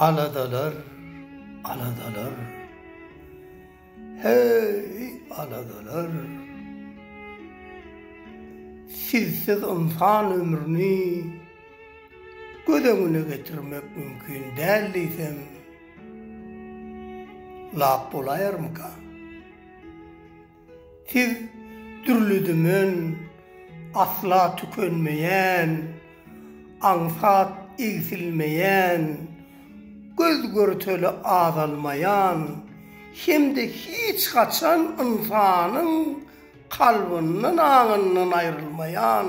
Aladalar, aladalar, heý, aladalar. Sizsiz ynsan ömrüni göz öňüne getirmek mümkin däl diýsem, lap bolaýarmyka? Siz dürli-dümen, asla tükenmeýän, aňsat egsilmeýän, göz görteli azalmaýan hem-de hiç haçan ynsanyň kalbyndan-aňyndan aýrylmaýan,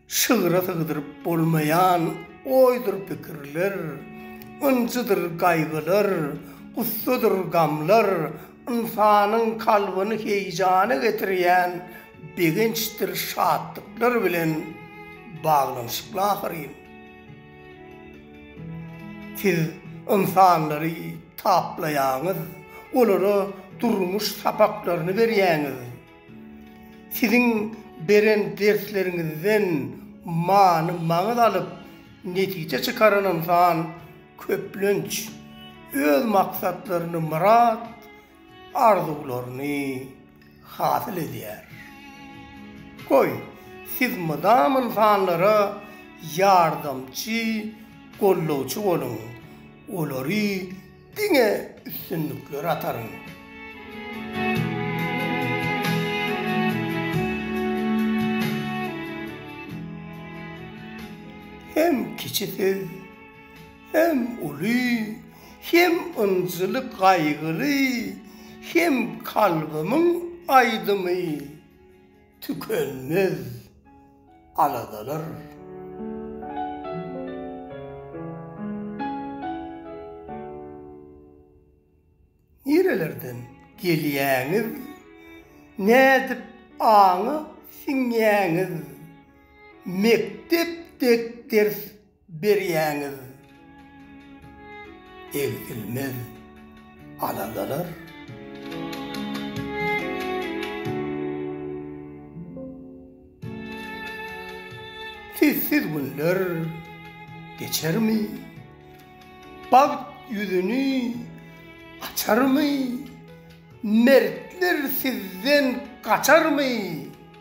Şygra sygdyryp bolmaýan oýdur pikirler, Ynjydyr gaýgylar, gussadyr gamlar, Ynsanyň kalbyny heýjana getirýän Begençdir şatlyklar bilen baglanyşykly ahyryn. Siz ynsanlary taplaýaňyz, olara durmuş sapaklaryny berýäňiz. Siziň beren dersleriňizden many-maňyz alyp, netije çykaran ynsan köplenç öz maksatlaryny, myrat, arzuwlaryny hasyl edýär. Goý, siz mydam ynsanlara ýardamçy, gollawçy boluň, olary Diňe üstünlikler ataryn. Hem kiçisiz, hem uly, hem ynjyly gaýgyly, hem kalbymyň aýdymy. Tükenmez aladalar. Nirelerden gelýäňiz? Nädip aňa siňýäňiz? Mekdep dek ders berýäňiz egsilmez aladalar. Sizsiz günler geçermi, bagt ýüzüni açarmy, mertler sizden gaçarmy.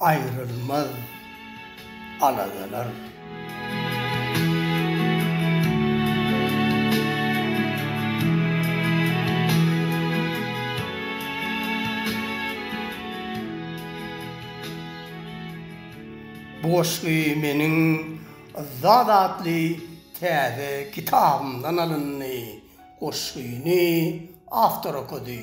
Aýrylmaz aladalar. Bu goşgy meniň Yzzat atly täze kitabymdan alyndy. Goşgyny awtor okady.